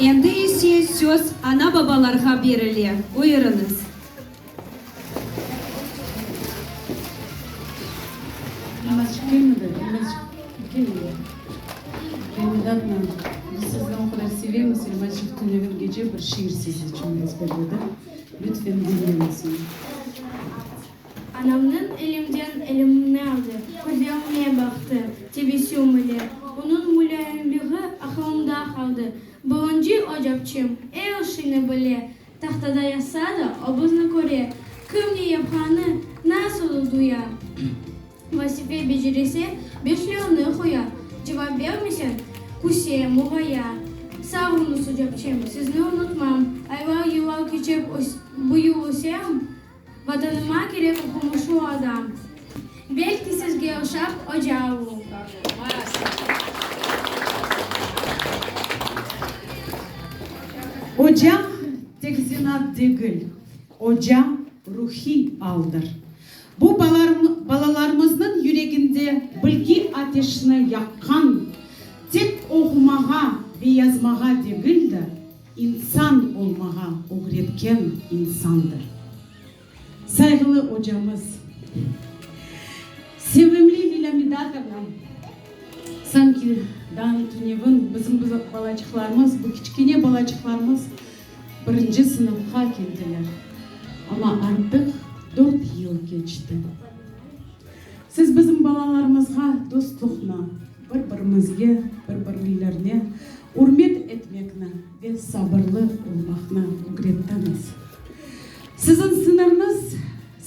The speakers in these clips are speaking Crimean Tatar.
Endi ise söz ana-babalarğa berile. Buyurıñız. Anamnıñ elimden elimni aldı, közevime baqtı, tebessüm ile. Onıñ mulâyimliği aqılımda qaldı. Birinci ocapçım er işini bile, tahtada yazsa da, obuzni köre, kim ne yapqanı, nasıl duya. Vazife becerirse, beşlevni qoya, cevap bermeseñ, küse, muğaya. Sağ oñız, ocapçım, sizni unutmam. Aylar-yıllar keçip, büyürsem. Vatanıma kerek oqumuşu adam. Belki sizge oşap ocavu. Ocam tek zinat degil, ocam ruhiy aldır. Bu balalarmıznıñ yüreginde bilgi ateşini yaqqan tek oqumağa ve yazmağa degil de, İnsan olmağa ögretken insandır. Sayğılı ocamız, sevimli Lilâ Midatovna, sanki dağnıñ tünevin bizim balacıqlarımız, bu kiçkene balacıqlarımız birinci sınıfqa keldiler, amma artıq dört yıl keçti. Siz bizim balalarımızğa dostluqnı, bir-birimizge, bir-birlerine ürmet etmekni ve sabırlı olmaqnı ögrettiñiz. Siziñ sıñırnız,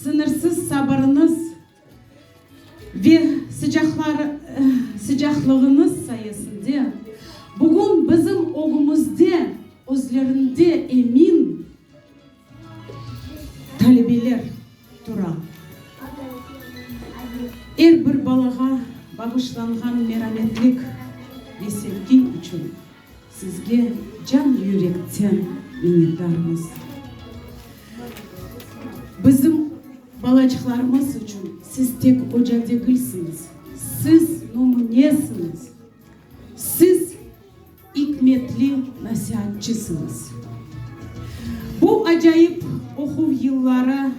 sıñırsız sabırıñız ve sıcaqlığıñız sayesinde bugün bizim ögümizde özlerinde emin, Talebeler tura. Er bir balağa bağışlanğan merametlik ve sevgi içün sizge can-yürekten minnetdarmız. Bizim balacıqlarımız içün siz tek oca degilsiñiz, siz numunesiniz. Siz. ikmetli nasiatçısıñız. Bu acayip oquv yılları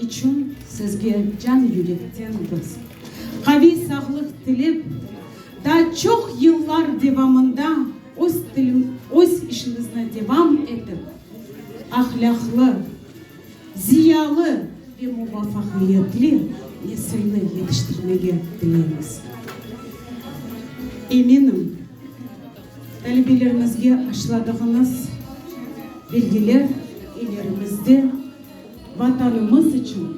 içün sizge can-yürekten biz, qaviy sağlıq tilep, daa çoq yıllar devamında öz tili öz işiñizni devam etip, ahlâqlı, ziyalı ve muvafaqiyetli nesilni yetiştirmege tileymiz. Eminim, talebelerimizge aşladığıñız belgiler ilerimizde Vatanımız içün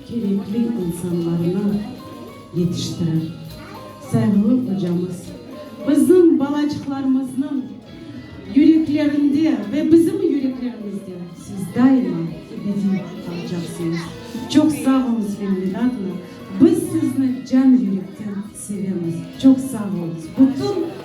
kerekli insanlarnı, yetiştirir. Sayğılı ocamız bizim balacıqlarımıznıñ yüreklerinde ve bizim yüreklerimizde siz daima ebediy qalacaqsıñız. Çoq sağ oluñız, Fehmi Dâdna, biz sizni can yürekten sevemiz. Çoq sağ oluñız. Bütün.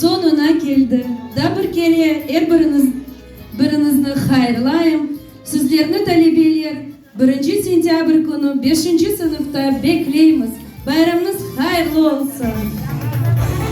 soñuna keldi. Da bir kere er biriñiz biriñizni hayırlayım, sizlerni talebeler birinci sentâbr künü beşinci sınıfta bekleymiz, bayramnız hayırlı olsun!